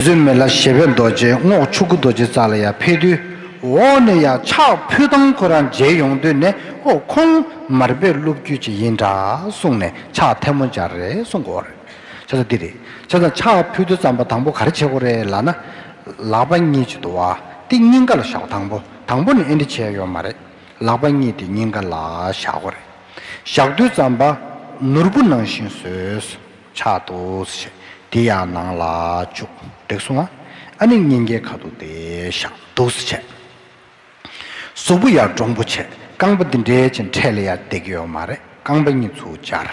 བཟོད་མེད་ལ་ཞེ་བས་རྡོ་རྗེ་རྔོག་ཆུ་སྐུ་རྡོ་རྗེ་རྩ་ལ་ཡར་འཕེལ་དུས་འོག་ནས་ཡར་ཕྱག་ཕུལ་སྟངས་ཁོ་རང་མཇལ་ཡོང་དུས་ནས་ཨོ་ཁོང་མར་པའི་སློབ་བརྒྱུད་ཅིག་ཡིན་འདྲ་གསུངས་ནས་ཕྱག་ཐལ་མོ་སྦྱར་རེ་གསུངས་གོ་རེ་བྱ་ས་འདི་རེད་བྱས་ཙང་ཕྱག་ཕུལ་དུས་རྩམ་པ་དང་པོ་ག་རེ་བྱེད་གོ་རེ་ལགས་ན། ལག་པ་གཉིས་ཀྱིས་དུ་བ་སྟེ་སྙིང་ག་ལ་བཞག་གོ་དང་པོ་དང་པོ་ནས་ཨེ་འདྲི་བྱས་ཡོད་མ་རེད་ལག་པ་གཉིས་དེ་སྙིང་ག་ལ་བཞག་གོ་རེ་བཞག་དུས་རྩམ་པ་ནོར་བུ་ནང་བཞིན་བཟོས། ཆགས་འདུག། དེ་ཡང་ནང་ལ་བཅུག་འགྲིག་སོང་ང་ཨ་ནི་སྙིང་གའི་ཁ་དོག་དེ་ཤག་འདུག། གཟུགས་པོ་ཡར་འདྲོང་པོ་བྱེད་རྐང་པ་འདི་འདྲའི་ཅན་འཕྲད་ལ་ཡར་བརྡེག་ཡོད་མ་རེད་རྐང་པ་གཉིས་ཚུར་སྦྱར་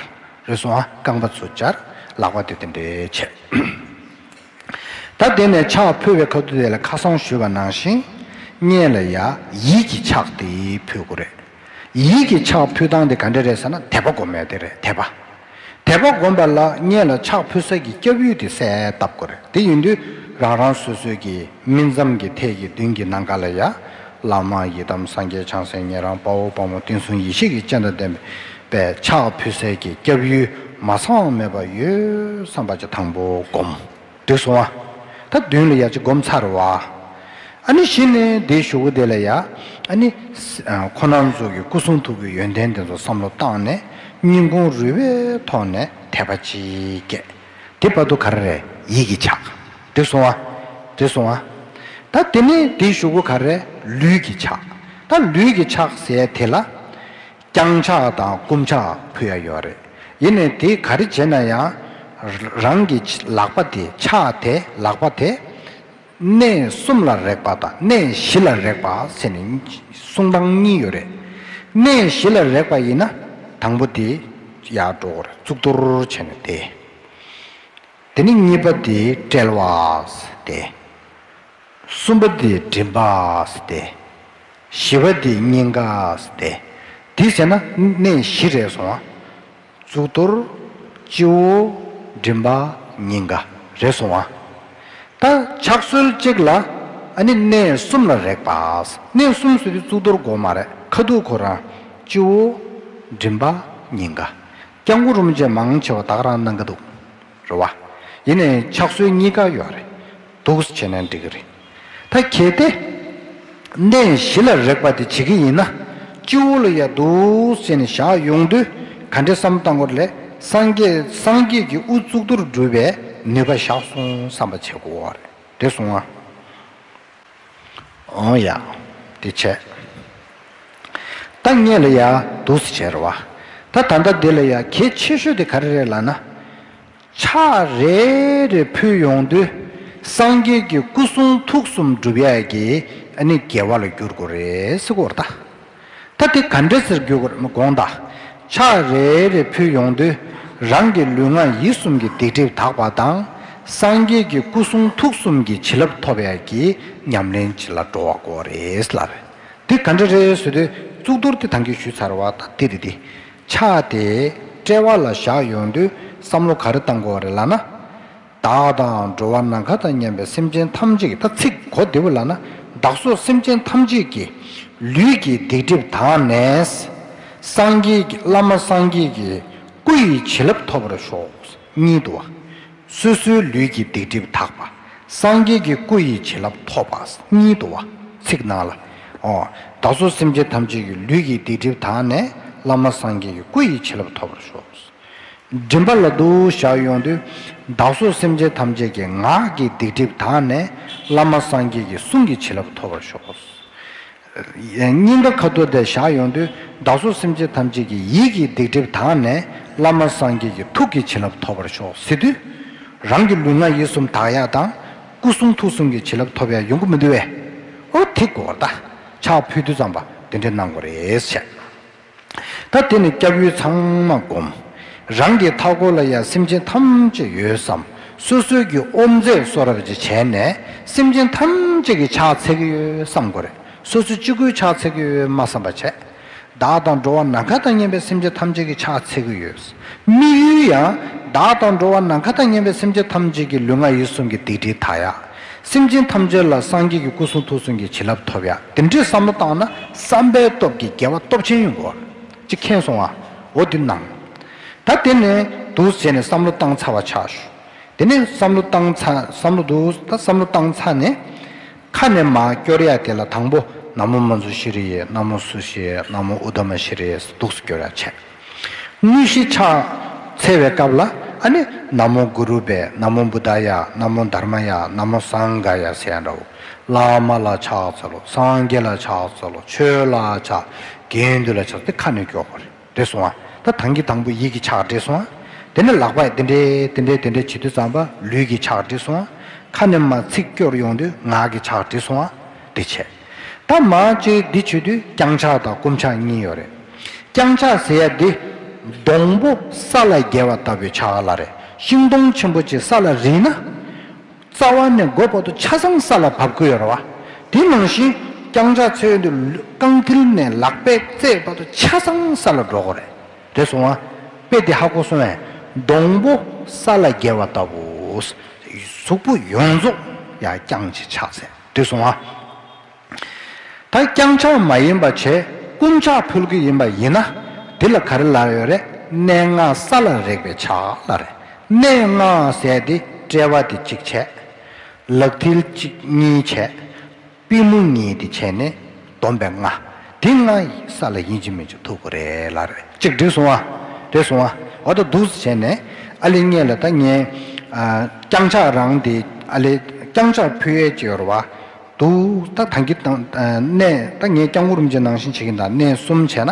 རེད་སོང་ང་རྐང་པ་ཚུར་སྦྱར་ལག་པ་དེ་དེ་འདྲའི་བྱེད། ད་དེ་ནས་ཆགས་ཕུད་བའི་ཁ་དོག་དེ་ལ་ཁ་སང་ཞུས་པ་ནང་བཞིན། བརྙན་ལ་ཡ་ཡིད་ཀྱིས་ཆགས་དེ་ཕུད་དགོས་རེད། ཡིད་ཀྱི་ཕྱག་ཕུལ་སྟངས་དེ་ག་འདྲ་རེད་ཟེར་ན་དད་པ་སྒོམ་མེད་དེ་རེད་དད་པ། དད་པ་སྒོམ་པ་ལ་བསྙད་ལ་ཕྱག་ཕུལ་ས་ཀྱི་སྐྱབས་ཡུལ་དེ་གསལ་བཏབ་དགོས་རེད་དེ་ཡིན་དུས་རང་རང་སོ་སོའི་གི་སྨིན་མཚམས་ཀྱི་ཐད་ཀྱི་མདུན་གྱི་ནང་ག་ལ་ཡ། བླ་མ་ཡི་དམ་སངས་རྒྱས་བྱང་སེམས་ཉན་རང་དཔའ་བོ་དཔའ་མོ་བསྟན་སྲུང་ཡེ་ཤེས་ཀྱི་སྤྱན་དང་ལྡན་པའི་ཕྱག་ཕུལ་སའི་གི་སྐྱབས་ཡུལ་མ་ཚང་བ་མེད་པ་ཡོད་བསམ་པ་ཅི་ཐང་པོ་སྒོམ། དུ་བཟུང་བ། ད་བདུན་ལ་ཡ་བྱེད་བསྒོམ་ཚར་བ། ཨ་ནི་བཞི་ནི་དེའི་ཞུ་བོ་དེ་ལ་ཡ། ཨ་ནི། ཁོ་ནར་འཛུགས་ཀྱི་སྐུ་གསུང་ཐུགས་ཀྱི་ཡོན་ཏན་དེ་ཚོ་བསམ་བློ་བཏང་ནས་སྙིང་ཁུང་རུས་པའི་ཐོག་ནས་དད་པ་ཅིག་སྐྱེས། དེ་བར་དུ་ག་རེ་རེད་ཡིད་ཀྱི་ཆགས། དུ་བཟུང་བ། དུ་བཟུང་བ། ད་དེ་ནི་དེའི་ཞུ་བོ་ག་རེ་རེད་ལུས་ཀྱི་ཆགས། ད་ལུས་ཀྱི་ཆགས་ཟེར་དེ་ལ། བརྐྱང་ཕྱག་དང་བསྐུམ་ཕྱག་ཕུལ་ཡ་ཡོད་རེད། ཡིན་ནས་དེ་ག་རེ་བྱས་ན་ཡང། རང་གི་ལག་པ་དེ་ཕྱག་དེ་ལག་པ་དེ། གནས་གསུམ་ལ་རེག་པ་དང་གནས་བཞི་ལ་རེག་པ་ཟེར་ནས་གསུང་སྟངས་གཉིས་ཡོད་རེད། གནས་བཞི་ལ་རེག་པ་ཡིན་ན་དང་པོ་དེ་ཡར་འགྲོ་གོ་རེ་གཙུག་ཏོར་བྱས་ནས་དེ། དེ་ནས་གཉིས་པ་དེ་དཔྲལ་བ་དེ། གསུམ་པ་འདི་མགྲིན་པ་སྟེ། བཞི་པ་འདི་སྙིང་ག་སྟེ། འདི་བྱས་ན་གནས་བཞི་རེ་སོང་ང། གཙུག་ཏོར། སྤྱི་བོ། མགྲིན་པ། སྙིང་ག། རེ་སོང་ང། ད་ཕྱག་གསོལ་གཅིག་ལ། ནི་གནས་གསུམ་ལ་རེག་པ། གནས་གསུམ་སུ་དེ་གཙུག་ཏོར་སྒོ་མ་རེག་ཁ་ཐུག་ཁོ་རང། སྤྱི་བོ། མགྲིན་པ། སྙིང་ག། སྐྱབས་མགོ་རུམ་བཅས་མང་ཆེ་བ་དག་རང་སྣང་གི་འདུག། རེད་བ། ཡིན་ནའི་ཕྱག་སྲོལ་གཉིས་ཀ་ཡོད་རེད། འདུག་བྱས་ན་འགྲིག་གི་རེད། ད་གལ་ཏེ། གནས་གཞི་ལ་རེག་པ་དེ་བྱེད་ཀྱི་ཡིན་ན། སྤྱི་བོ་ལ་ཡར་འདུག་བྱས་ནས་བཞག་ཡོང་དུས་ག་འདྲ་བསམ་བཏང་གོ། ལས་སངས་རྒྱས་སངས་རྒྱས་ཀྱི་དབུ་གཙུག་ཏུ་སྒྲུབ་པའི་ནུས་པ་བཞག་སོང་བསམ་པ་བྱེད་དགོས་རེད་བཟུང་ཨ། འོང་ཡང་འདི་བྱས། བདག་གཉེན་ལ་ཡང་སྡུག་སེ་བྱེད་ར་བ། ད་ད་ལྟ་འདི་ལ་ཡང་གལ་ཆེ་ཤོས་དེ་ག་རེ་རེད་ལ་ན། ཕྱག་རེ་རེ་ཕུལ་ཡོང་དུས་སངས་རྒྱས་ཀྱི་སྐུ་གསུང་ཐུགས་གསུམ་འགྲུབ་ཡས་ཀྱི་ནི་རྒྱལ་བ་ལ་འགྱུར་དགོས་རེད་སྐོར་ད། ད་དེ་ག་འདྲ་ཟེར་རྒྱུ་གོར་མི་དགོངས་ད། ཕྱག་རེ་རེ་ཕུལ་ཡོང་དུས་རང་གི་ལུས་ངག་ཡིད་གསུམ་གྱི་སྡིག་སྒྲིབ་དག་པ་དང། སངས་རྒྱས་ཀྱི་སྐུ་གསུང་ཐུགས་གསུམ་གྱི་བྱིན་རླབས་ཐོབ་ཡ་གྱི་ཉམས་ལེན་བྱེད་ལ་འགྲོ་བ་གོ་རེད་ལབ། དེ་ག་འདྲ་རེད་ཟེར་དུས་གཙུག་ཏོར་དེ་དང་གིས་ཞུས་ཚར་བ་ད་དེ་རེད་དེ། ཕྱག་དེ་དཔྲལ་བ་ལ་བཞག་ཡོང་དུས་བསམ་བློ་ག་རེ་བཏང་གོ་རེ་ལབ་ན། བདག་དང་འགྲོ་བ་ནམ་མཁའ་དང་མཉམ་པའི་སེམས་ཅན་ཐམས་ཅད་ཀྱི་ཐ་ཚིག་གོ་བདེ་བོ་ལགས་ན་བདག་སོགས་སེམས་ཅན་ཐམས་ཅད་ཀྱི། ལུས་ཀྱི་སྡིག་སྒྲིབ་དག་ནས། སངས་རྒྱས་ཀྱི་བླ་མ་སངས་རྒྱས་ཀྱི་སྐུ་ཡི་བྱིན་རླབས་ཐོབ་པར་ཤོག། གཉིད་དུ། སོ་སོའི་ལུས་ཀྱི་སྡིག་སྒྲིབ་དག་པ། སངས་རྒྱས་ཀྱི་སྐུ་ཡི་བྱིན་རླབས་ཐོབ་པ། གཉིད་དུ། ཚིག་ནང་ལ། ཧོ། བདག་སོགས་སེམས་ཅན་ཐམས་ཅད་ཀྱི་ལུས་ཀྱི་སྡིག་སྒྲིབ་དག་ནས་བླ་མ་སངས་རྒྱས་ཀྱི་སྐུ་ཡི་བྱིན་རླབས་ཐོབ་པར་ཤོག། མགྲིན་པ་ལ་འདུ་བྱར་ཡོང་དུས་བདག་སོགས་སེམས་ཅན་ཐམས་ཅད་ཀྱི་ངག་གི་སྡིག་སྒྲིབ་དག་ནས་བླ་མ་སངས་རྒྱས་ཀྱི་གསུང་གི་བྱིན་རླབས་ཐོབ་པར་ཤོག། སྙིང་ག་ཁ་དོག་དེ་བཞག་ཡོང་དུས་བདག་སོགས་སེམས་ཅན་ཐམས་ཅད་ཀྱི་ཡིད་ཀྱི་སྡིག་སྒྲིབ་དག་ནས་བླ་མ་སངས་རྒྱས་ཀྱི་ཐུགས་ཀྱི་བྱིན་རླབས་ཐོབ་པར་ཤོག་ཟེར་དུས། རང་གི་ལུས་ངག་ཡིད་གསུམ་དག་ཡར་དང་སྐུ་གསུང་ཐུགས་གསུམ་གྱི་བྱིན་རླབས་ཐོབ་ཡར་ཡོང་གི་མི་འདུག་བས། ཨོ་དེ་གོ་བདག་ཕྱག་ཕུལ་དུས་ཙམ་པ་འདི་འདྲས་གནང་དགོས་རེད་བྱས། ད་དེ་ནས་སྐྱབས་ཡུལ་ཚང་མ་བསྒོམ། རང་གི་མཐའ་སྐོར་ལ་ཡང་སེམས་ཅན་ཐམས་ཅད་ཡོད་བསམ། སོ་སོའི་རྒྱུ་ཨོམ་མཛད་གསོ་རབ་ཅེས་བྱས་ནས་སེམས་ཅན་ཐམས་ཅད་ཀྱི་ཕྱག་འཚལ་གྱི་ཡོད་བསམ་དགོས་རེད། སོ་སོ་གཅིག་པུའི་ཕྱག་འཚལ་གྱི་ཡོད་སྨྲ་བསམ་པ་བྱས། བདག་དང་འགྲོ་བ་ནམ་མཁའ་དང་གཉེན་པའི་སེམས་ཅན་ཐམས་ཅད་ཀྱི་ཕྱག་འཚལ་གྱི་ཡོད་དམིགས་ཡུལ་ཡང། བདག་དང་འགྲོ་བ་ནམ་མཁའ་དང་གཉེན་པའི་སེམས་ཅན་ཐམས་ཅད་ཀྱི་ལུས་ངག་ཡིད་གསུམ་གྱི་སྡིག་སྒྲིབ་དག་ཡ། སེམས་ཅན་ཐམས་ཅད་ལ་སངས་རྒྱས་ཀྱི་སྐུ་གསུང་ཐུགས་གསུང་གི་བྱིན་རླབས་ཐོབ་ཡ། དེ་འདྲའི་བསམ་བློ་བཏང་ན་བསམ་པའི་སྟོབས་ཀྱིས་རྒྱལ་བ་སྟོབས་ཆེན་ཡོང་གོ། ཅེས་མཁྱེན་སོང་ང། འོ་འདི་ནང། ད་དེ་ནས་འདུག་ཟེར་ནས་བསམ་བློ་བཏང་ཚར་བ་ཆགས། དེ་ནས་བསམ་བློ་བཏང་ཚར་བསམ་བློ་འདུག་ད་བསམ་བློ་བཏང་ཚར་ནས། ཁ་ནས་མ་སྐྱོར་ཡ་དེ་ལ་དང་པོ་ན་མོ་མ་ཛུ་ཤི་རི་ཡས་ན་མོ་སུ་ཤི་ཡས་ན་མོ་ཨུ་དྷ་མ་ཤི་རི་ཡས་སུ་འདུག་སུ་སྐྱོར་ཡ་བྱས། དངོས་གཞི་ཕྱག་འཚལ་བའི་སྐབས་ལ་ཨ་ནི་ན་མོ་གུ་རུ་པའི་ན་མོ་བུ་ད་ཡ་ན་མོ་དར་མ་ཡ་ན་མོ་སང་ག་ཡ་ཟས་འདྲ་བོ་བླ་མ་ལ་ཕྱག་འཚལ་ལོ་སངས་རྒྱས་ལ་ཕྱག་འཚལ་ལོ་ཆོས་ལ་ཕྱག་དགེ་འདུན་ལ་ཕྱག་འཚལ་ཁ་ནས་ཀྱོག་པ་རེ་འདྲེ་སོང་ང་ད་དང་གི་དང་པོ་ཡིད་ཀྱི་ཕྱག་འདྲེ་སོང་ང་དེ་ནས་ལག་པས་དེ་འདྲེ་དེ་འདྲེ་དེ་འདྲེ་བྱེད་དུས་ཙམ་པ་ལུས་ཀྱི་ཕྱག་འདྲེ་སོང་ང་ཁ་ནས་མ་ཚིག་སྐྱོར་ཡོང་དུས་ངག་གི་ཕྱག་འདྲེ་སོང་ང་དེ་བྱས། ད་མ་ཅིག་འདི་བྱེད་དུས་རྐྱང་ཕྱག་དང་བསྐུམ་ཕྱག་གཉིས་ཡོད་རེད། རྐྱང་ཕྱག་ཟེར་ཡ་འདི། སྡོང་པོ་ས་ལ་རྒྱལ་བ་ལྟ་བུའི་ཕྱག་ལ་རེད་ཤིང་སྡོང་ཆེན་པོ་ཅིག་ས་ལ་རིལ་ན། རྩ་བ་ནས་མགོ་བར་དུ་ཆ་ཚང་ས་ལ་བབས་དགོས་ཡོད་རེད་བ། དེ་ནང་བཞིན་རྐྱང་ཕྱག་ཚོས་འདི་རྐང་མཐིལ་ནས་ལག་པའི་རྩེ་བར་དུ་ཆ་ཚང་ས་ལ་འགྲོ་དགོས་རེད། རེད་སོང་བ། དཔེ་འདི་ཧ་གོ་སོང་བས་སྡོང་པོ་ས་ལ་རྒྱལ་བ་ལྟ་བུ། གཟུགས་པོ་ཡོངས་རྫོགས་ཡ་རྐྱང་གཅིག་ཕྱག་ཟེར། དུས་སོང་བ། ད་རྐྱང་ཆགས་མ་ཡིན་པ་བྱས་རྐུན་ཆགས་ཕུལ་གྱི་ཡིན་པ་ཡིན་ན་དེ་ལ་ག་རེ་ལ་ཡོད་རེད་གནས་ལྔ་ས་ལ་རེག་པའི་ཆ་ལ་རེ་གནས་ལྔ་བཟས་ཏེ་དཔྲལ་བ་དེ་གཅིག་བྱས། ལག་མཐིལ་གཅིག་གཉིས་བྱས། པི་མོ་གཉིས་དེ་བྱས་ནས། སྡོམ་པའི་ལྔ། དེ་ལྔ་ཡི་ས་ལ་ཡིན་གཅིག་མིན་གཅིག་ཐུག་གོ་རེ་ལ་རེ་གཅིག་བསྒྲིགས་སོང་བ། རེ་བཟུང་བ། བ་ད་འདུག་བྱས་ནས། ཨ་ལེ་ངེད་ལ་ད་ངེད། རྐྱང་ཆག་རང་དེ་ཨ་ལེ། རྐྱང་ཆག་ཕུ་ཡལ་བྱེད་ཡོར་བ། འདུག་ད་ད་གི། གནས་ད་ངེད་རྐྱང་གུ་རུམ་ཅན་ནང་བཞིན་བྱེད་གི་འདའ་གནས་གསུམ་བྱས་ན།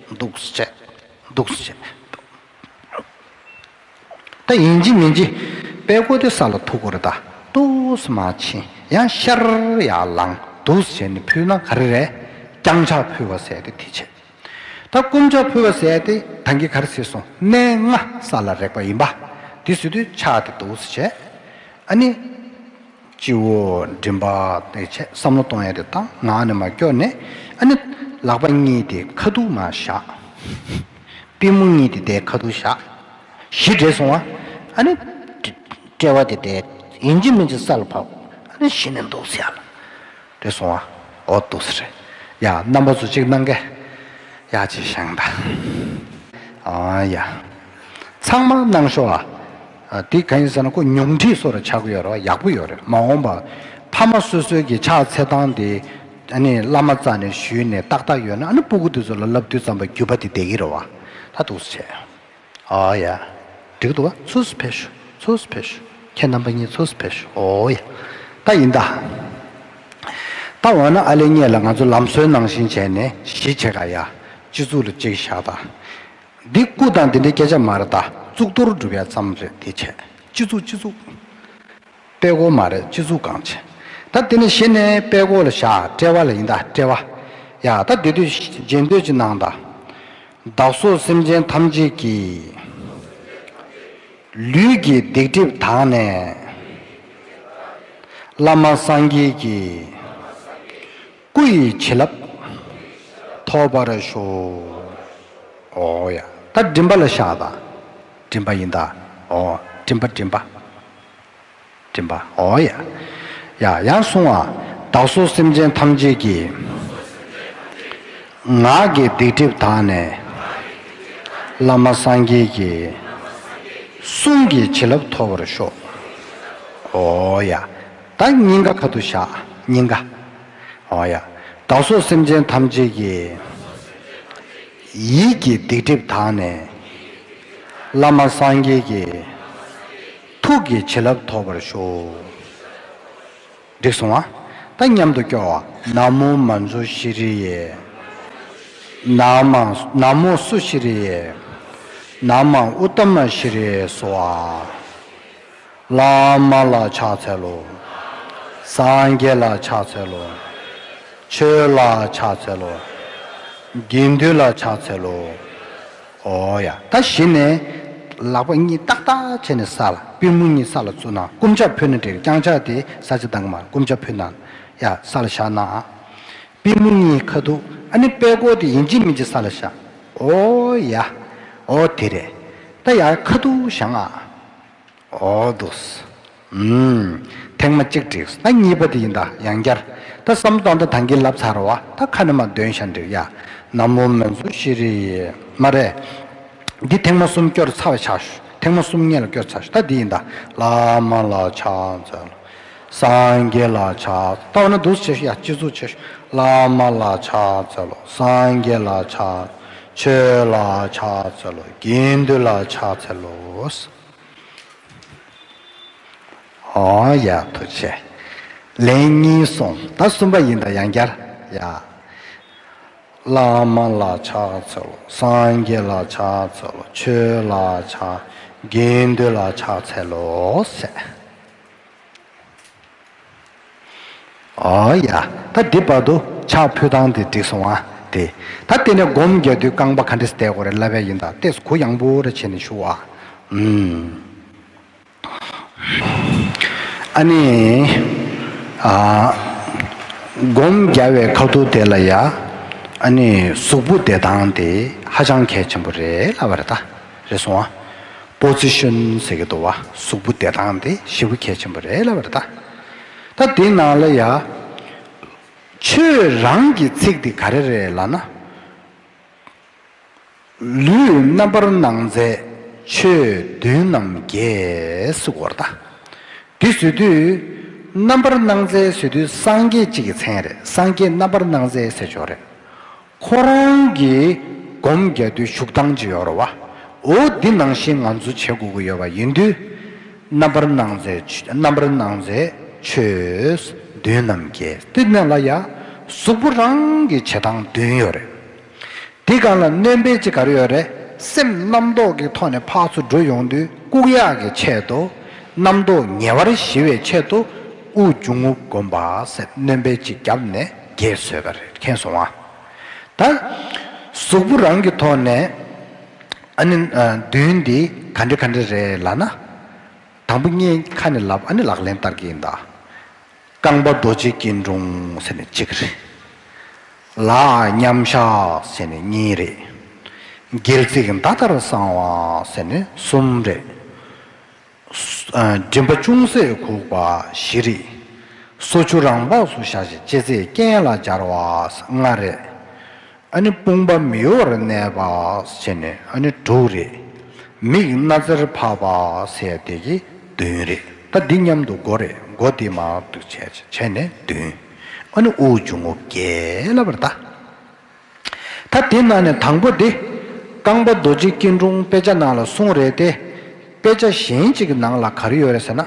འདུག་བྱས། འདུག་བྱས། ད་ཡིན་གྱི་མིན་གྱི། པད་བསྐོར་དེ་ས་ལ་ཐུག་གོ་རེ་ད། ཏོགས་མ་ཕྱིན་ཡང་ཤར་ཡར་ལངས་འདུག་བྱས་ནས་ཕུལ་ན་ག་རེ་རེད། བརྐྱང་ཕྱག་ཕུལ་བ་ཟས་ཏེ་དེ་བྱས། ད་བསྐུམ་ཕྱག་ཕུལ་བ་ཟས་ཏེ་ད་འགི་ག་རེ་ཟེར་སོང་གནས་ལྔ་ས་ལ་རེག་པ་ཡིན་པ། དེ་ཟོས་དུས་ཕྱག་དེ་འདུག་བྱས། ཨ་ནི། སྤྱི་བོ་མགྲིན་པ་དེ་ཆེད་བསམ་བློ་གཏོང་ཡ་དེ་ལྟ་ངང་ནས་མ་སྐྱོ་ནས་ཨ་ནི་ལག་པ་གཉིས་དེ་ཁ་སྡུག་ན་བཞག་པི་མོ་གཉིས་དེ་དེ་ཁ་སྡུག་བཞག་གཞི་བྲེལ་སོང་བ་ཨ་ནི་དཔྲལ་བ་དེ་དེ་ཡིན་གྱི་མིན་གྱི་ས་ལ་བབས་ཨ་ནི་གཞི་ནས་འདུག་ས་ལ། དེ་སོང་བ་འོ་སྡུག་ས་རེད་ཡ་རྣམ་པ་ཚོ་གཅིག་གནང་གི་ཡ་གཅིག་བཞེངས་ད་ཨ་ཡ་ཚང་མ་གནང་ཤོག་ཨ་དེ་ག་ཡིན་ཟེར་ན་ཁོ་ཉུང་འཕྲི་སོགས་ར་ཆག་གི་ཡོད་ར་བ་ཡག་པོ་ཡོད་རེད་མ་འོངས་པ་ཕ་མ་སོ་སོའི་གི་ཕྱག་འཚལ་སྟངས་དེ་ཨ་ནི་བླ་མ་རྩ་ནས་ཞུས་ནས་ཏག་ཏག་ཡོད་ན་ཨ་ནི་སྤུ་གུ་དེ་ཚོ་ལ་བསླབ་བཏུས་ཙམ་པ་བརྒྱུད་པ་དེ་བསྡད་གི་རེད་བ་ད་སྡུག་ས་བྱས། ཨོའོ་ཡ། འགྲིག་འདུག་ཨ་ཚུགས་སུ་ཕེབས་ཞུ་ཚུགས་སུ་ཕེབས་ཞུ། ཁྱེད་རྣམ་པ་གཉིས་ཚུགས་སུ་ཕེབས་ཞུ་ཨོའོ་ཡ། ད་ཡིན་ད། ད་འོ་ན་ཨ་ལེ་གཉེས་ལ་ང་ཚོ་ལམ་སྲོལ་ནང་བཞིན་བྱས་ནས་གཞིས་བྱེས་ཁ་ཡ། སྤྱི་གཙུག་ལ་གཅིག་བཞག་ད། འདི་སྐུ་དང་འདི་འདྲའི་སྐད་ཆ་མ་རེད་ད་གཙུག་ཏོར་སྒྲུབ་ཡ་ཙམ་རེད་དེ་བྱས། སྤྱི་གཙུག་སྤྱི་གཙུག། པད་ཀོ་མ་རེད་སྤྱི་གཙུག་གང་ཆེ། ད་དེ་ནས་གཞི་ནས་པད་ཀོ་ལ་བཞག་དཔྲལ་བ་ལ་ཡིན་ད་དཔྲལ་བ། ཡ་ད་སྡོད་དུས་རྗེས་འདོད་ཅི་གནང་ད། བདག་སོགས་སེམས་ཅན་ཐམས་ཅད་ཀྱི། ལུས་ཀྱི་སྡིག་སྒྲིབ་དག་ནས། བླ་མ་སངས་རྒྱས་ཀྱི། སྐུ་ཡི་བྱིན་རླབས། ཐོབ་པར་ཤོག། ཨོ་ཡ་ད་མགྲིན་པ་ལ་བཞག་ད་མགྲིན་པ་ཡིན་ད། ཨོ་མགྲིན་པ་མགྲིན་པ། མགྲིན་པ་ཨོ་ཡ། ཡ་ཡ་གསུང་བ། བདག་སོགས་སེམས་ཅན་ཐམས་ཅད་ཀྱི། ངག་གི་སྡིག་སྒྲིབ་དག་ནས། བླ་མ་སངས་རྒྱས་ཀྱི། གསུང་གི་བྱིན་རླབས་ཐོབ་པར་ཤོག། ཨོ་ཡ། བདག་སྙིང་ག་ག་ཏུ་བཞག་སྙིང་ག། ཨོ་ཡ། བདག་སོགས་སེམས་ཅན་ཐམས་ཅད་ཀྱི། ཡིད་ཀྱི་སྡིག་སྒྲིབ་དག་ནས། བླ་མ་སངས་རྒྱས་ཀྱི། ཐུགས་ཀྱི་བྱིན་རླབས་ཐོབ་པར་ཤོག། འགྲིག་སོང་ཨ། ད་མཉམ་དུ་སྐྱོར་བ། ན་མོ་མ་མཚོ་ཤི་རི་ཡེ། ན་མ། ན་མོ་སུ་ཤི་རི་ཡེ། ན་མ་ཨུཏྟ་མ་ཤི་རི་ཡེ་སོ་ཨ། བླ་མ་ལ་ཕྱག་འཚལ་ལོ། སངས་རྒྱས་ལ་ཕྱག་འཚལ་ལོ། ཆོས་ལ་ཕྱག་འཚལ་ལོ། དགེ་འདུན་ལ་ཕྱག་འཚལ་ལོ། ཨོ་ཡ། ད་བཞི་ནས། ལག་པ་གཉིས་ཏག་ཏག་བྱས་ནས་ས་ལ། པུས་མོ་གཉིས་ས་ལ་བཙུགས་ན་བསྐུམ་ལྕགས་ཕུད་ན་འགྲིག་བརྐྱང་ལྕགས་དེ་ས་ཆ་དང་མ་བསྐུམ་ལྕགས་ཕུད་ན། ཡ། ས་ལ་བཞག་ན། པུས་མོ་གཉིས་ཁ་ཐུག་ཨ་ནི་པད་ཀོ་དེ་ཡིན་གཅིག་མིན་གཅིག་ས་ལ་བཞག། ཨོ་ཡ། ཨོ་དེ་རེད། ད་ཡ། ཁ་ཐུག་བཞག་ཨ། ཨོ་དུ་སི། ཨུམ། ཐེངས་མ་གཅིག་བྲིས་སོ་ད་གཉིས་པ་དེ་ཡིན་ད་ཡང་བསྐྱར། ད་བསམ་གཏོང་ད་ད་འགི་ལབ་ཚར་བ་ད་ཁ་ནི་མ་འདོན་ཤ་འདྲིར་ཡ། ན་མོ་མན་ཟུ་ཤི་རི་ཡི། མ་རེད། འདི་ཐེངས་མ་གསུམ་བསྐྱོར་ཚར་བ་ཆགས། ཐེངས་མ་གསུམ་བརྙན་ལ་བསྐྱོར་ཚར་ད་འདི་ཡིན་ད། བླ་མ་ལ་ཕྱག་འཚལ། སངས་རྒྱས་ལ་ཕྱག་བཏབ་ན་འདུ་བྱེད་ཡང་སྤྱི་གཙུག་ཆོས་བླ་མ་ལ་ཕྱག་འཚལ་ལོ། སངས་རྒྱས་ལ་ཕྱག་ཆོས་ལ་ཕྱག་འཚལ་ལོ། དགེ་འདུན་ལ་ཕྱག་འཚལ་ལོ། ཧོ། ཡ། ཐུགས་ཆེ། ལན་གཉིས་གསུང་ད་གསུམ་པ་ཡིན་ད་ཡང་བསྐྱར། ཡ། བླ་མ་ལ་ཕྱག་འཚལ་ལོ། སངས་རྒྱས་ལ་ཕྱག་འཚལ་ལོ། ཆོས་ལ་ཕྱག། དགེ་འདུན་ལ་ཕྱག་འཚལ་ལོ། ཨོ་ཡ། ད་འདི་བར་དུ་ཆགས་ཕུ་ཐང་དེ་འགྲིག་སོང་ཨ། དེ། ད་ལྟེ་ནས་སྒོམ་རྒྱག་དུས་རྐང་པ་ག་འདྲེས་བསྡད་དགོས་རེད་ལབ་ཡ་ཡིན་ད་ལྟེ་གུ་ཡངས་པོ་རེ་བྱེད་ནས་བཞུགས་ཨ། ཨ་ནི། ཨ། སྒོམ་རྒྱག་བའི་ཁ་ཐུག་དེ་ལ་ཡ། ཨ་ནི་གཟུགས་པོ་བདེ་ཐང་དེ་ཧ་ཅང་གལ་ཆེན་པོ་རེད་ལབ་པ་རེད་ད། རེད་སོང་བ། སྤོ་ཙི་ཤོན་ཟེར་གི་འདུག་བ་གཟུགས་པོ་བདེ་ཐང་དེ་ཤི་བོ་གལ་ཆེན་པོ་རེད་ལབ་པར་གདའ། ད་འདི་ནང་ལ་ཡ། ཁྱོད་རང་གི་ཚིག་འདི་ག་རེ་རེད་ལ་ན། ལུས་རྣམ་པར་སྣང་མཛད་ཆོས་བདུན་རྣམ་རྒྱལ་སུ་སྐོར་གདའ། འདི་བཟོས་དུས། རྣམ་པར་སྣང་མཛད་བཟོས་དུས་སངས་རྒྱས་གཅིག་གི་མཚན་རེད་སངས་རྒྱས་རྣམ་པར་སྣང་མཛད་སེ་ཇོ་རེད། ཁོ་རང་གིས་སྒོམ་རྒྱག་དུས་ཤུགས་འདང་ཅི་ཡོད་རོ་བ། འོ་འདི་ནང་བཞིན་ང་ཚོ་བྱེད་དགོས་ཀྱི་ཡོད་པ་ཡིན་དུས། རྣམ་པར་སྣང་མཛད་རྣམ་པར་སྣང་མཛད་ཆོས་བདུན་ནམ་བརྒྱད་སྟེ་གནས་ལ་ཡང་གཟུགས་པོ་རང་གི་བྱེད་སྟངས་བདུན་ཡོད་རེད། འདི་གང་ལ་གནོད་འབེན་ཅི་གར་ཡོད་རེད། སེམས་རྣམ་རྟོག་གི་ཐོག་ནས་འཕགས་སུ་འགྲོ་ཡོང་དུས་ལྐུགས་གཡའ་གི་ཆེད་དུ། རྣམ་རྟོག་ཉེ་བར་ཞི་བའི་ཆེད་དུ། དབུགས་འབྱུང་ངུ་སྒོམ་པ་སེམས་གནོད་འབེན་ཅིག་བརྒྱབ་ནས། རྒྱས་བཟོས་པ་རེད་མཁྱེན་སོང་ཨ། ད། གཟུགས་པོ་རང་གི་ཐོག་ནས། ཨ་ནི། མདུན་འདི་ག་འདྲི་ག་འདྲི་རེད་ལ་ན། དང་པོ་གཉིས་ཁ་ནས་ལབ་ཨ་ནི་ལག་ལེན་བསྟར་གྱི་ཡིན་ད། རྐང་པ་རྡོ་རྗེ་སྐྱིལ་ཀྲུང་ཟེར་ནི་གཅིག་རེད། ལག་མཉམ་བཞག་ཟེར་ནི་གཉིས་རེད། སྒལ་ཚིགས་མདའ་ལྟར་བསྲང་བ་ཟེར་ནི་གསུམ་རེད། མགྲིན་པ་ཅུང་ཟད་གུག་པ་བཞི་རིགས། སོ་ཆུ་རང་སྦགས་སུ་བཞག་ཅིང་ལྕེ་རྩེ་རྐན་ལ་སྦྱར་བ་ལྔ་རེ། ཨ་ནི་དཔུང་པ་མི་གཡོ་བར་གནས་པ་བྱས་ནས་ཨ་ནི་དྲུག་རེ། མིག་སྣ་རྩེར་འཕགས་པ་ཟད་བདེ་ཀྱིས་བདུན་རེ། ད་འདི་མཉམ་དུ་མགོ་རེ་མགོ་དེ་མང་དུ་བྱས་ནས་བདུན། ཨ་ནི་དབུགས་འབྱུང་ངོ་བརྒྱལ་བར་བལྟ། ད་དེ་ན་ནས་དང་པོ་དེ། རྐང་པ་རྡོ་རྗེ་སྐྱིལ་ཀྲུང་དཔེ་ཆ་ནང་ལ་གསུངས་རེད་དེ། དཔེ་ཆ་གཞན་གཅིག་གི་ནང་ལ་ག་རེ་ཡོད་རེད་ཟེར་ན།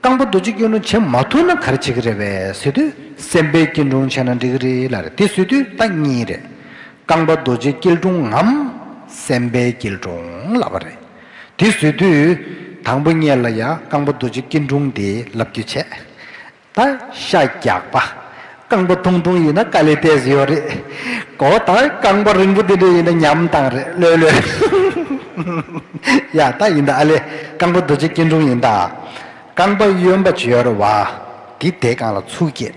རྐང་པ་རྡོ་རྗེ་སྐྱིལ་ཀྲུང་བྱེད་མ་ཐུབ་ན་ག་རེ་བྱེད་ཀྱི་རེད་བས་ཟེར་དུས་སེམས་དཔའི་སྐྱིལ་ཀྲུང་བྱས་ན་འགྲིག་གི་རེད་ལ་རེད་དེ་ཟེར་དུས་ད་གཉིས་རེད། རྐང་པ་རྡོ་རྗེ་སྐྱིལ་ཀྲུང་ངམ། སེམས་དཔའི་སྐྱིལ་ཀྲུང་ལབ་པ་རེད། དེ་ཟེར་དུས། དང་པོ་གཉེར་ལ་ཡང་རྐང་པ་རྡོ་རྗེ་སྐྱིལ་ཀྲུང་དེ་ལབ་རྒྱུ་བྱས། དང་ཤ་རྒྱགས་པ། རྐང་པ་ཐུང་ཐུང་ཡིན་ན་ཀ་ལི་ཏེས་ཡོད་རེད་གོ། དང་རྐང་པ་རིང་པོ་དེ་འདྲ་ཡིན་ན་ཉམས་དང་རེད་ལོས་ལོས། ཡ་ད་ཡིན་ད་ཨ་ལེ་རྐང་པ་རྡོ་རྗེ་སྐྱིན་ཀྲུང་ཡིན་ད། རྐང་པ་གཡོན་པ་བྱོལ་བ། དེ་དེ་གང་ལ་ཚུགས་སྐྱེས།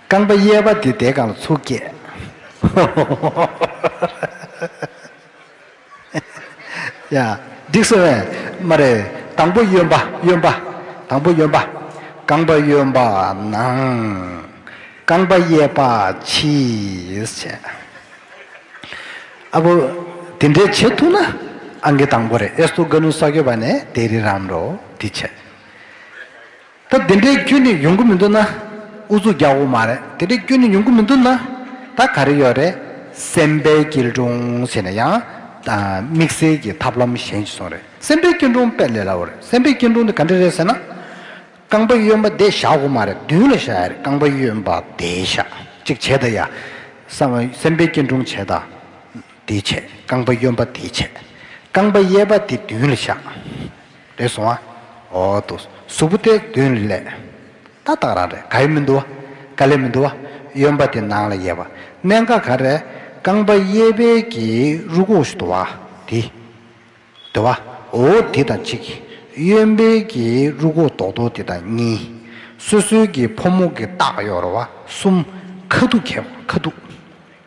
རྐང་པ་གཡས་པ་དེ་དེ་གང་ལ་ཚུགས་སྐྱེས། འགྲིག་ཟེར་བས། མ་རེད། དང་པོ་གཡོན་པ་གཡོན་པ། དང་པོ་གཡོན་པ། རྐང་པ་གཡོན་པ་ནང། རྐང་པ་གཡས་པ་ཕྱིས་བྱས། ཨ་བུ། དེ་འདྲས་བྱེད་ཐུག་ན། ཨང་ཀི་དང་པོ་རེད་ཨེ་སུ་ཀ་ནུ་ས་ཁྱོད་པ་ནས་དེ་རི་རམ་རོ་དེ་བྱས། ད་དེ་འདྲའི་སྐྱོན་ནི་ཡོང་གི་མི་འདུག་ན་ཨུ་ཚུགས་རྒྱག་འོ་མ་རེད་དེ་འདྲའི་སྐྱོན་ནི་ཡོང་གི་མི་འདུག་ན་ད་ག་རེ་ཡོད་རེད་སེམས་པའི་སྐྱིལ་ཀྲུང་བྱས་ན་ཡང་དམིགས་བསལ་གྱི་ཐབས་ལམ་གཞན་ཞིག་སོང་རེད་སེམས་པའི་སྐྱིལ་ཀྲུང་དཔེ་ལས་སླ་བོ་རེད་སེམས་པའི་སྐྱིལ་ཀྲུང་དེ་ག་འདྲ་རེད་ཟེར་ན། རྐང་པ་གཡོན་པ་དེ་བཞག་འོ་མ་རེད་མདུན་ལ་བཞག་ཡ་རེད་རྐང་པ་གཡོན་པ་དེ་བཞག་ཅིག་བྱས་ད་ཡ། སེམས་པའི་སྐྱིལ་ཀྲུང་བྱས་ད་དེ་བྱས་རྐང་པ་གཡོན་པ་དེ་བྱས་རྐང་པ་གཡས་པ་དེ་མདུན་ལ་བཞག། རེད་སོང་ཨ། འོ་ཏོ། གཟུགས་པོ་སྟེ་བདུན་ལས། ད་བརྟག་རང་རེད་ག་ཡི་མི་འདུག་ཨ། ག་ལས་མི་འདུག་ཨ། གཡོན་པ་དེ་ནང་ལ་གཡས་པ། གནད་འགག་ག་རེད། རྐང་པ་གཡས་པའི་གྱི་རུ་ཁུག་ཞུ་དུ་བ། དེ། དུ་བ། འོ་དེ་དང་གཅིག། གཡོན་པའི་གྱི་རུ་ཁུག་དོག་དོག་དེ་དང་གཉིས། སོ་སོའི་གྱི་ཕོ་མོག་གི་བརྟག་གཡོར་བ་གསུམ། ཁ་ཐུག་ཁ་ཐུག།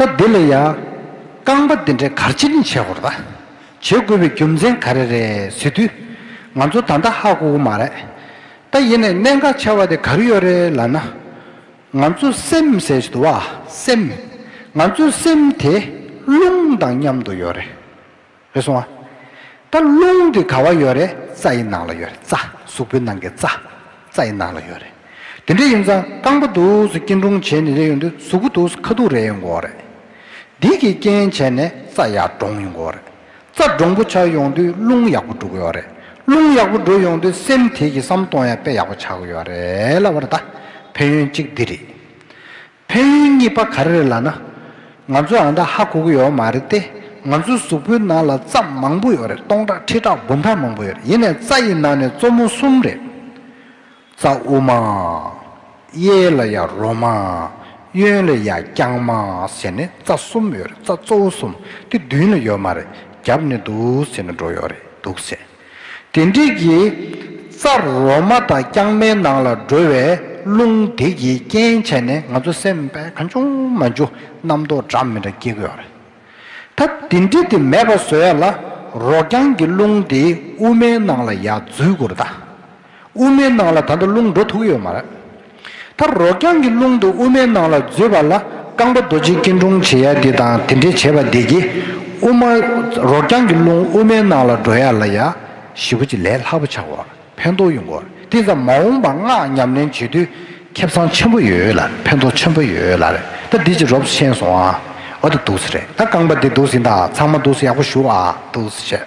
སྐབས་འདི་ལ་ཡང། རྐང་པ་འདི་འདྲའི་གར་ཅི་ནས་བྱེད་དགོས་རེད། བྱེད་དགོས་པའི་རྒྱུ་མཚན་ག་རེ་རེད་ཟེར་དུས། ང་ཚོ་ད་ལྟ་ཧ་གོ་གི་མ་རེད། ད་ཡིན་ནས་གནད་འགག་ཆེ་བ་དེ་ག་རེ་ཡོད་རེད་ལབ་ན། ང་ཚོ་སེམས་ཟེར་གྱི་འདུག་བ། སེམས། ང་ཚོའི་སེམས་དེ་རླུང་དང་མཉམ་དུ་ཡོད་རེད། རེད་སོང་ཨ། ད་རླུང་དེ་ག་བ་ཡོད་རེད་རྩ་ཡི་ནང་ལ་ཡོད་རེད་རྩ། གཟུགས་པོའི་ནང་གི་རྩ། རྩ་ཡི་ནང་ལ་ཡོད་རེད། དེ་འདྲས་ཡིན་ཙང་རྐང་པ་འདུག་སུ་སྐྱིན་ཀྲུང་བྱས་ནས་རེད་ཡོང་དུས་གཟུགས་པོ་འདུག་སུ་ཁ་ཐུག་རེད་ཡོང་གོ་རེད། དེ་གིས་རྐྱེན་བྱས་ནས་རྩ་ཡག་འདྲོངས་ཡོང་གོ་རེད། རྩ་འདྲོངས་པོ་ཆགས་ཡོང་དུས་རླུང་ཡག་པོ་འགྲོ་གི་ཡོད་རེད། རླུང་ཡག་པོ་འགྲོ་ཡོང་དུས་སེམས་དེ་གིས་བསམ་གཏོང་ཡང་དཔེ་ཡག་པོ་ཆགས་གི་ཡོད་རེད་ལབ་བ་རེད་ད། ཕན་ཡོན་གཅིག་འདི་རེད། ཕན་ཡོན་གཉིས་པ་ག་རེ་རེད་ལགས་ན། ང་ཚོ་ཨ་མདའ་ཧ་གོ་གི་ཡོད་མ་རེད་དེ། ང་ཚོའི་གཟུགས་པོའི་ནང་ལ་རྩ་མང་པོ་ཡོད་རེད་སྟོང་ཕྲག་ཁྲི་ཕྲག་དགུ་ཕྲག་མང་པོ་ཡོད་རེད་ཡིན་ནས་རྩ་ཡི་ནང་ནས་གཙོ་མོ་གསུམ་རེད། རྩ་དབུ་མ། གཡས་ལ་ཡང་རོ་མ། གཡོན་ལ་ཡང་རྐྱང་མ་ཟེར་ནས་རྩ་གསུམ་ཡོད་རེད་རྩ་གཙོ་བོ་གསུམ་དེ་མདུན་ལ་ཡོད་མ་རེད་རྒྱབ་ནས་འདུག་ཟེར་ནས་འགྲོ་ཡོད་རེད་འདུག་ཟེར། དེ་འགྲིག་གི། རྩར་རོ་མ་དང་རྐྱང་མའི་ནང་ལ་འགྲོ་བའི་རླུང་དེ་གིས་རྐྱེན་བྱས་ནས་ང་ཚོ་སེམས་པས་གང་བྱུང་མ་འཇུག་རྣམ་རྟོག་འདྲ་མི་འདྲ་སྐྱེ་དགོས་པ་རེད། ད་དེ་འདྲི་དེ་མེད་པ་བཟོ་ཡ་ལ་རོ་རྐྱང་གི་རླུང་དེ་དབུ་མའི་ནང་ལ་ཡར་འཛུལ་དགོས་རེད་ད། དབུ་མའི་ནང་ལ་ད་དུང་རླུང་འགྲོ་ཐུག་ཡོད་མ་རེད། མཐར་རོ་རྐྱང་གི་རླུང་དུ་དབུ་མའི་ནང་ལ་འཛུལ་བ་ལ་རྐང་པ་རྡོ་རྗེ་སྐྱིལ་ཀྲུང་བྱེད་ཡ་དེ་དང་དེ་འདྲས་བྱས་པ་བདེ་སྐྱིད་དབུ་མ། རོ་རྐྱང་གི་རླུང་དབུ་མའི་ནང་ལ་འགྲོ་ཡ་ལ་ཡ། ཞི་བ་གྱི་ལས་ལྷག་པོ་བྱ་དགོས། ཕན་ཐོགས་ཡོང་དགོས། དེ་ཙམ་མ་འོངས་པར་སྔགས་ཉམས་ལེན་བྱེད་དུས་ཁེབ་ཚང་ཆེན་པོ་ཡོད་ལ་ཕན་ཐོགས་ཆེན་པོ་ཡོད་ལ་རེད་ད་འདི་ཅི་རོབས་སུ་ཤེས་སོང་ཨ། འོ་ད་འདུག་སེ་རེད་ད་རྐང་པ་འདི་འདུག་སེ་ད་ཚང་མ་འདུག་སེ་ཡག་པོ་ཞུ་ཨ་འདུག་སེ་བྱས།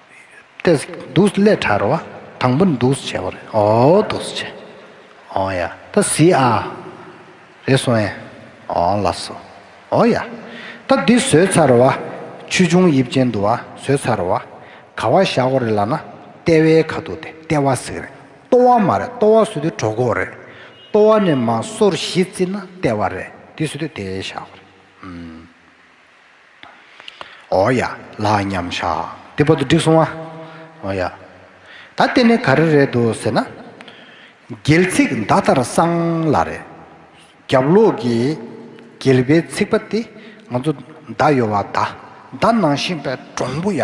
ཏས། འདུག་སླད་དྲར་བ། དང་པོ་འདུག་བྱས་པ་རེད། འོའོ་འདུག་བྱས། འོ་ཡ། ད་ཟི་ཨ། རེད་སོང་ཨེ། འོ་ལ་སོ། འོ་ཡ། ད་འདི་བཟོས་ཚར་བ། ཆུ་ཆུང་དབྱིབས་ཅན་འདུག་བ་བཟོས་ཚར་བ། ག་བ་བཞག་གོ་རེད་ལ་ན། ལྟེ་བའི་ཁ་འདུག་སྟེ་ལྟེ་བ་ཟེར་གི་རེད། ལྟོ་བ་མ་རེད་ལྟོ་བ་བཟོས་དུས་གྲོ་གོག་རེད། ལྟོ་བ་ནས་མ་སོར་བཞི་བརྩིས་ན་ལྟེ་བ་རེད། འདི་བཟོས་དུས་དེ་བཞག་གོ་རེད། ཨོ་ཡ། ལགས་མཉམ་བཞག་འདི་བོ་ཏོ་འགྲིག་སོང་ཨ། ཨོ་ཡ། ད་ལྟེ་ནི་ག་རེ་རེད་དོ་ཟེར་ན། རྒྱལ་ཚིག་མདའ་དར་གསང་ལ་རེད། རྒྱབ་ལོགས་ཀྱི་རྒྱལ་པའི་ཚིག་པ་དེ་ང་ཚོ་མདའ་ཡོ་བ་མདའ་མདའ་ནང་བཞིན་པའི་འབྲོང་བུ་ཡ།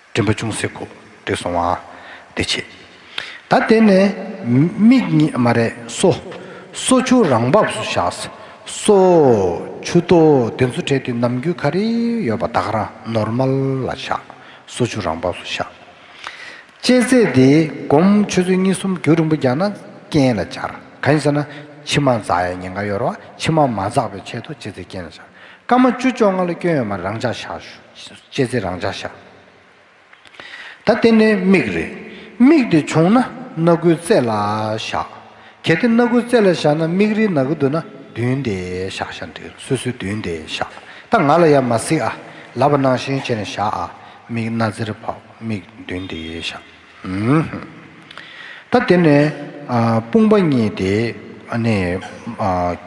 མགྲིན་པ་ཅུང་ཟད་ཁུག་སྟེ་སོང་བ། བདེ་བྱེད། ད་བལྟས་ནས། མིག་གཉིས་མ་རེད་སོ། སོ་ཆུ་རང་བབས་སུ་བཞག། སོ། ཆུ། དོ། དེ་ཚོ་བྲལ་དུས་ནམ་རྒྱུན་ག་རེ་ཡོད་པ་དག་རང་ནོར་མ་ལ་བཞག། སོ་ཆུ་རང་བབས་སུ་བཞག། དཔྱད་ཚད་དེ་སྒོམ་ཆུ་ཚོད་གཉིས་གསུམ་རྒྱུ་རིང་པོ་རྒྱག་ན་རྐྱེན་ལ་འཆར། གང་ཡིན་ཟེར་ན། མཆི་མ་འཛག་ཡ་ཉེན་ཁ་ཡོད་ར་བ་མཆི་མ་མ་འཛག་པའི་ཆེད་དུ་དཔྱད་ཚད་རྐྱེན་ལ་འཆར། སྐར་མ་བཅུ་བཅོ་ལྔ་ལ་སྐྱོན་ཡོད་མ་རེད་རང་འཇགས་བཞག། ལྕེ་རྩེ་རང་འཇགས་བཞག། ད་ལྟེ་ནི་མིག་རེད། མིག་དེ་བྱུང་ན་སྣ་དགུའི་རྩེ་ལ་བཞག། གལ་ཏེ་སྣ་དགུའི་རྩེ་ལ་བཞག་ན་མིག་རིལ་ནག་གི་འདུག་ན་མདུན་དེ་བཞག་བཞག་མདུན་སོ་སོའི་མདུན་དེ་བཞག་ད་ང་ལ་ཡར་མ་གཟིགས་ཨ། ལབ་པ་ནང་བཞིན་བྱས་ནས་བཞག་ཨ། མིག་སྣ་རྩེར་ཕབ་མིག་མདུན་དེ་བཞག། ད་དེ་ནས་དཔུང་པ་གཉིས་དེ་ནི་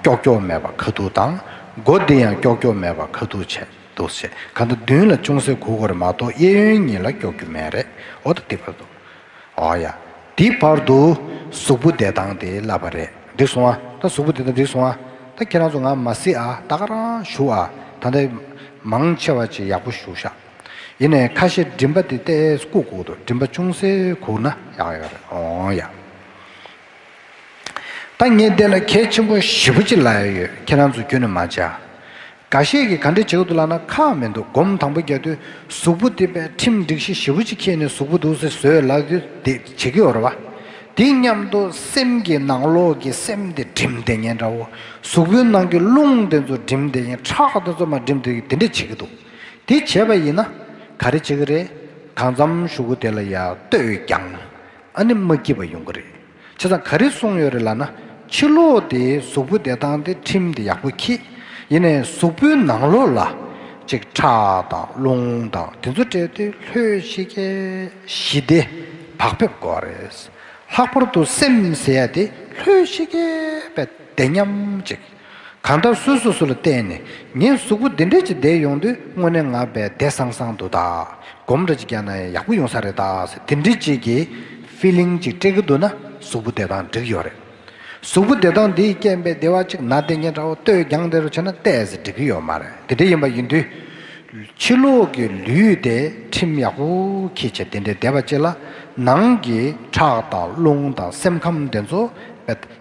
ཀྱོག་ཀྱོག་མེད་པར་ཁ་ཐུག་དང་མགོ་འདི་ཡང་ཀྱོག་ཀྱོག་མེད་པར་ཁ་ཐུག་བྱས། འདུག་ཟེར་ག་འདུག་བདུན་ལ་ཅུང་ཟད་གུག་གོར་མ་གཏོགས་གཡས་གཡོན་གཉིས་ལ་ཀྱོག་རྒྱུ་མེད་རེད་ཨོ་ད་དེ་བར་དུ། ཨོ་ཡ། དེ་བར་དུ། གཟུགས་པོ་བདེ་ཐང་དེ་བསླབས་པ་རེད་འགྲིག་སོང་ཨ། ད་གཟུགས་པོ་བདེ་ཐང་འགྲིག་སོང་ཨ། ད་ཁྱེད་རང་ཚོ་ང་མ་གཟིགས་ཨ་ད་ཁ་རང་བཞུགས་ཨ། ད་ལྟ། མང་ཆེ་བ་ཅིག་ཡག་པོ་བཞུགས་ཤག། ཡིན་ནས་ཁ་ཤས་མགྲིན་པ་དེ་ལྟས་སྐུ་གུག་འདུག་མགྲིན་པ་ཅུང་ཟད་གུག་ན་ཡག་ཡོད་རེད་ཨོ་ཡ། ད་ངས་བལྟས་ན་གལ་ཆེན་པོ་བཞི་པོ་གཅིག་ལ་ཡ་ཡོད་ཁྱེད་རང་ཚོ་རྒྱུན་ནས་མ་བྱ། འགའ་ཤས་ཀྱིས་ག་འདྲས་བྱེད་གི་འདུག་ལགས་ན་ཁག་མི་འདུག་སྒོམ་དང་པོ་རྒྱག་དུས་གཟུགས་པོ་དེ་པས་ཁྲིམས་སྒྲིག་གཞི་བཞི་པོ་གཅིག་ཁྱེར་ནས་གཟུགས་པོ་འདུག་སེ་བཟོས་ལགས་དེ་འདི་བྱེད་ཀྱི་ཡོད་རེད་བ། དེ་སྙམ་དུ་སེམས་ཀྱི་ནང་ལོག་གི་སེམས་དེ་བསྒྲིམས་བསྡད་ཉེན་འདྲ་བོ། གཟུགས་པོའི་ནང་གི་རླུང་དེ་ཚོ་བསྒྲིམས་བསྡད་ཉེན་ཁྲག་དེ་ཚོ་མ་བསྒྲིམས་བསྡད་ཀྱི་དེ་འདྲས་བྱེད་ཀྱི་འདུག་དེ་བྱས་པ་ཡིན་ན་ག་རེ་བྱེད་ཀྱི་རེད་གང་འཚམ་ཞུ་གི་དེ་ལ་ཡ་ལྟོས་ཀྱང། ཨ་ནི་མ་སྐྱིད་པ་ཡོང་གི་རེད་བྱས་ཙང་ག་རེ་གསུངས་ཡོད་རེད་ལགས་ན། ཕྱི་ལོག་དེ་གཟུགས་པོ་བདེ་ཐང་དེ་ཁྲིམས་དེ་ཡག་པོ་ཁྱི། ཡིན་ནས་གཟུགས་པོའི་ནང་ལོག་ལ། ཅིག་ཁྲག་དང་རླུང་དང་དེ་ཚོ་སྤྲད་དེ་ལྷོད་ཤེས་ཀྱི། ཞི་བདེ་བག་ཕེབས་དགོས་བ་རེད། ལྷག་པར་དུ་སེམས་ཟེར་ཡ་དེ་ལྷོད་ཤེས་ཀྱི་བས་བདེ་སྙམ་ཅིག། གང་ལྟར་སོ་སོ་སོ་ལ་བལྟས་ནས་ངའི་གཟུགས་པོ་འདི་འདྲ་ཅིག་བསྡད་ཡོང་དུས་དངོས་གནས་ངག་བལ་བལྡད་སང་སང་འདུག་ད་སྒོམ་ར་ཅིག་རྒྱག་ན་ཡང་ཡག་པོ་ཡོང་ས་རེད་ད་དེ་འདྲི་ཅིག་གི Feeling ཅིག་སྤྲད་གི་འདུག་ན་གཟུགས་པོ་བདེ་ཐང་འགྲིག་ཡོད་རེད། གཟུགས་པོ་བདེ་ཐང་འདིས་རྐྱེན་པས་བདེ་བ་ཅིག་ན་བདེ་ཉེ་འདྲ་བོ་ལྟོས་རྒྱང་དེ་རུ་བྱས་ན་བལྟས་ཟིན་འགྲིག་གི་ཡོད་མ་རེད་དེ་འདྲ་ཡིན་པ་ཡིན་དུས། ཕྱི་ལོགས་ཀྱི་ལུས་དེ་ཁྲིམས་ཡག་པོ་གིས་བྱས་དེ་འདྲའི་བདེ་བ་ཅིག་ལ་ནང་གི་ཁྲག་དང་རླུང་དང་སེམས་ཁམས་དེ་ཚོ་བལྟ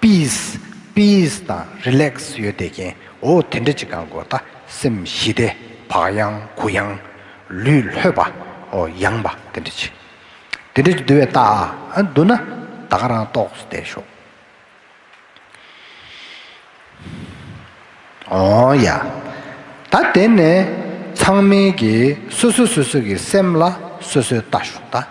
Peace Peace དང Relax ཡོད་བསྡད་ཀྱིན་འོ་དེ་འདྲ་ཅིག་གང་དགོས་ད་སེམས་ཞི་བདེ་བག་ཡངས་གུ་ཡངས། ལུས་ལྷོད་པ་འོ་ཡངས་པ་དེ་འདྲ་ཅིག་དེ་འདྲ་ཅིག་འདུལ་བའི་རྟགས་ཨ་འདུག་ན་ད་ག་རང་ལྟོགས་སུ་བསྡད་ཤོག་ཨོ་ཡ། ད་དེ་ནས་ཚང་མིན་གྱིས་སོ་སོ་སོ་སོ་གྱི་སེམས་ལ་སོ་སོའི་ལྟ་ཞོག་ད།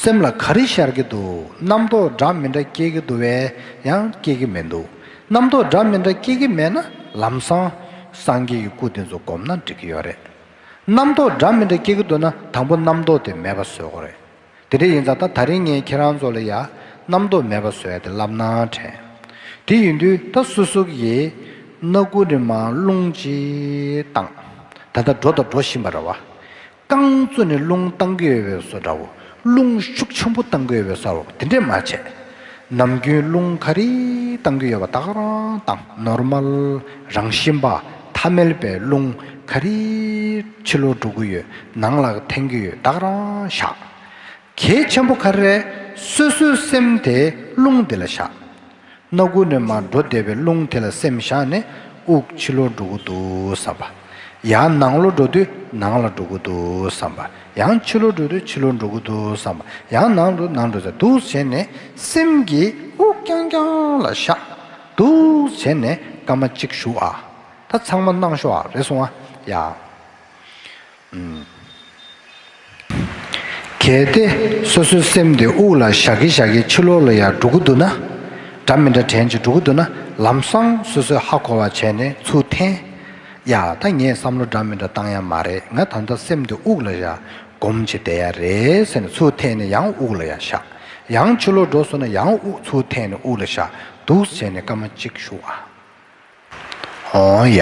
སེམས་ལ་ག་རེ་ཤར་གྱི་འདུག་རྣམ་རྟོག་འདྲ་མི་འདྲ་སྐྱེ་གི་འདུག་བས་ཡང་སྐྱེ་གི་མི་འདུག་རྣམ་རྟོག་འདྲ་མི་འདྲ་སྐྱེ་གི་མེད་ན་ལམ་སང། སངས་རྒྱས་ཀྱི་སྐུ་དེ་ཚོ་བསྒོམ་ན་འགྲིག་གི་ཡོད་རེད། རྣམ་རྟོག་འདྲ་མི་འདྲ་སྐྱེ་གི་འདུག་ན་དང་པོ་རྣམ་རྟོག་དེ་མེད་པ་བཟོས་དགོས་རེད། དེ་འདྲ་ཡིན་ཙང་ད་ད་རིང་ངས་ཁྱེད་རང་ཚོ་ལ་ཡ། རྣམ་རྟོག་མེད་པ་བཟོས་ཡ་དེ་ལབ་ན་དྲན། དེ་ཡིན་དུས་ད་སུ་སུ་ཡི། སྣ་དགུ་རི་མ་རླུང་ཅིག་ལྡང། ད་ད་འགྲོ་ད་འགྲོ་བཞིན་པ་ར་བ། རྐང་བཙོས་ནས་རླུང་བཏང་གི་ཡོད་པའི་སོ་འདྲ་བོ་རླུང་ཤུགས་ཆེན་པོ་བཏང་གི་ཡོད་པའི་སོ་རོག་དེ་འདྲས་མ་བྱས། ནམ་རྒྱུན་རླུང་ག་རེ་བཏང་གི་ཡོད་པ་དག་རང་དང Normal རང་བཞིན་པ་ཐ་མལ་པའི་རླུང་ག་རེ་ཕྱི་ལོག་འགྲོ་གི་ཡོད་ནང་ལག་འཐེན་གི་ཡོད་དག་རང་བཞག། གལ་ཆེན་པོ་ག་རེ་རེད་སོ་སོའི་སེམས་དེ་རླུང་འདི་ལ་བཞག། སྣ་དགུ་ནས་མར་འགྲོ་བདེ་བའི་རླུང་དེ་ལ་སེམས་བཞག་ནས་དབུགས་ཕྱི་ལོག་འགྲོ་གི་འདུག་བསམ་པ། ཡང་ནང་ལོག་འགྲོ་དུས་ནང་ལ་འགྲོ་གི་འདུག་བསམ་པ། ཡང་ཕྱི་ལོག་འགྲོ་དུས་ཕྱི་ལོག་འགྲོ་གི་འདུག་བསམ་པ། ཡང་ནང་དུ་ནང་འགྲོ་ས་འདུག་བྱས་ནས་སེམས་ཀྱིས་དབུགས་རྐྱང་རྐྱང་ལ་བཞག་འདུག་བྱས་ནས་སྐར་མ་གཅིག་བཞུགས་ཨ། ད་ཚང་མ་སྣང་ཤོག་ཨ་རེ་སོང་ཨ། ཡང། གལ་ཏེ་སོ་སོའི་སེམས་དེ་དབུགས་ལ་བཞག་གི་བཞག་གི་ཕྱི་ལོག་ལ་ཡང་འགྲོ་གི་འདུག་ན། སྒྲ་མི་འདྲ་དྲན་ཅིག་འགྲོ་གི་འདུག་ན་ལམ་སང་སོ་སོས་ཧ་གོ་བ་བྱས་ནས་ཚུར་འཐེན། ཡ་ད་ངས་བསམ་བློ་འདྲ་མི་འདྲ་བཏང་ཡ་མ་རེད་ང་ད་ལྟ་སེམས་དེ་དབུགས་ལ་བཞག་སྒོམ་བྱེད་བསྡད་ཡ་རེད་ཟེར་ནས་ཚུར་འཐེན་ནས་ཡང་དབུགས་ལ་ཡ་བཞག། ཡང་ཕྱི་ལོག་འགྲོ་སོང་ན་ཡང་དབུགས་ཚུར་འཐེན་ནས་དབུགས་ལ་བཞག་འདུག་བྱས་ནས་སྐར་མ་གཅིག་བཞུགས་ཨ། ཧོང་ཡ།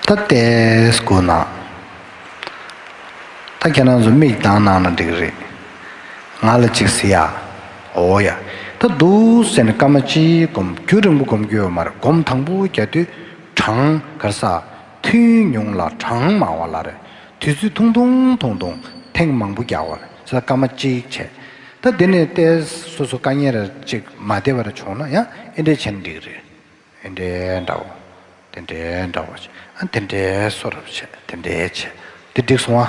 ད་ལྟས་སྒུག་ན། ད་ཁྱེད་རང་ཚོ་མིག་གདང་གནང་ན་འགྲིག་རེད། ང་ལ་ཅིག་ཟེར་ཡ། ཨོ་ཡ། ད་འདུག་ཟེར་ནས་སྐར་མ་གཅིག་བསྒོམ་རྒྱུ་རིང་པོ་བསྒོམ་རྒྱུ་ཡོད་མ་རེད་བསྒོམ་དང་པོ་རྒྱ་མདུད་གྲང་གར་ས་ཐུན་ཉུང་ལ་གྲང་མང་བ་ལ་རེད་དུས་ཚོད་ཐུང་ཐུང་ཐུང་ཐུང་ཐེངས་མང་པོ་རྒྱག་བ་རེད། ས་སྐར་མ་གཅིག་བྱས། ད་འདི་ནས་བལྟས། སོ་སོ་བཀའ་ཉན་རེར་གཅིག་མ་བདེ་བར་བྱུང་ན་ཡང་ཨེ་འདྲའི་བྱེད་ན་འགྲིག་རེད། ཨེ་འདྲའི་འདྲ་བོ། དེ་འདྲའི་འདྲ་བོ། ཨ་དེ་འདྲའི་སོ་རབ་བྱས་དེ་འདྲའི་བྱས། དེ་འགྲིག་སོང་ཨ།